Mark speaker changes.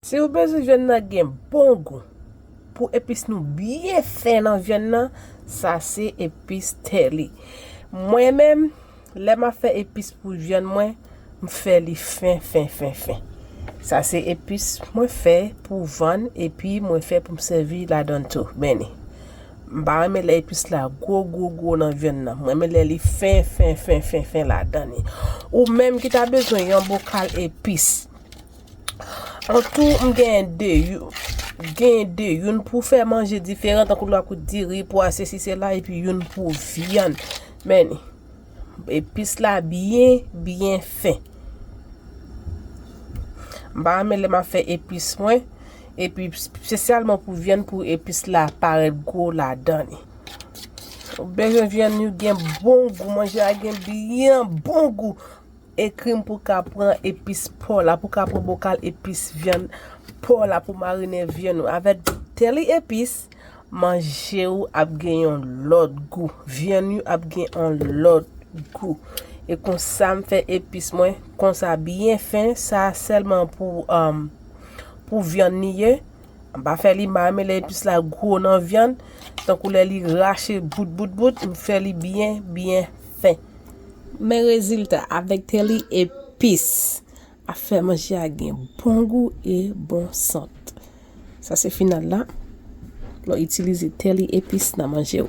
Speaker 1: Si ou bezwen vyann nan gen bon gou pou epis nou byen fen nan vyann nan sa se epis tè li. Mwen menm lè map fè epis pou vyann mwen m fè li fen fen fen fen. Sa se epis mwen fè pou vann epi mwen fè pou m sèvi ladann tou. Benny. M pa renmen lè epis la gwo gwo gwo nan vyann nan. M renmen lè li fen fen fen fen fen ladan li. Ou menm ki ta bezwen yon bokal epis. An tou m gen 2. Gen 2. Youn pou fè manje diferan tankou lwa kout diri, pwa se si se la. E pi youn pou vyann. Men ni. Epis la byen byen fen. M pa renmen lè ma fè epis mwen. Epi spesyalman pou vyann pou epis la parèt gwo ladan li. Ou bezwen vyann li gen bon gou, manje a gen byen bon gou. Ekri m pou ka pran epis paw la, pou ka pran bokal epis vyann paw la pou marinen vyann ou avèk deli epice. Manje ou ap gen yon lòt gou. Vyann ou ap gen yon lòt gou. E konsa m fè epis mwen konsa byen fen. Sa sèlman pou vyann li ye. M pa fè li mal men lè epis la gwo nan vyann. Tankou lè li rache bout bout bout. M fè li byen byen fen. Men rezilta avèk tèli epis. Ap fè manje a gen bon gou e bon sant. Sa se final la, lè w itilize tè li epis nan manje w.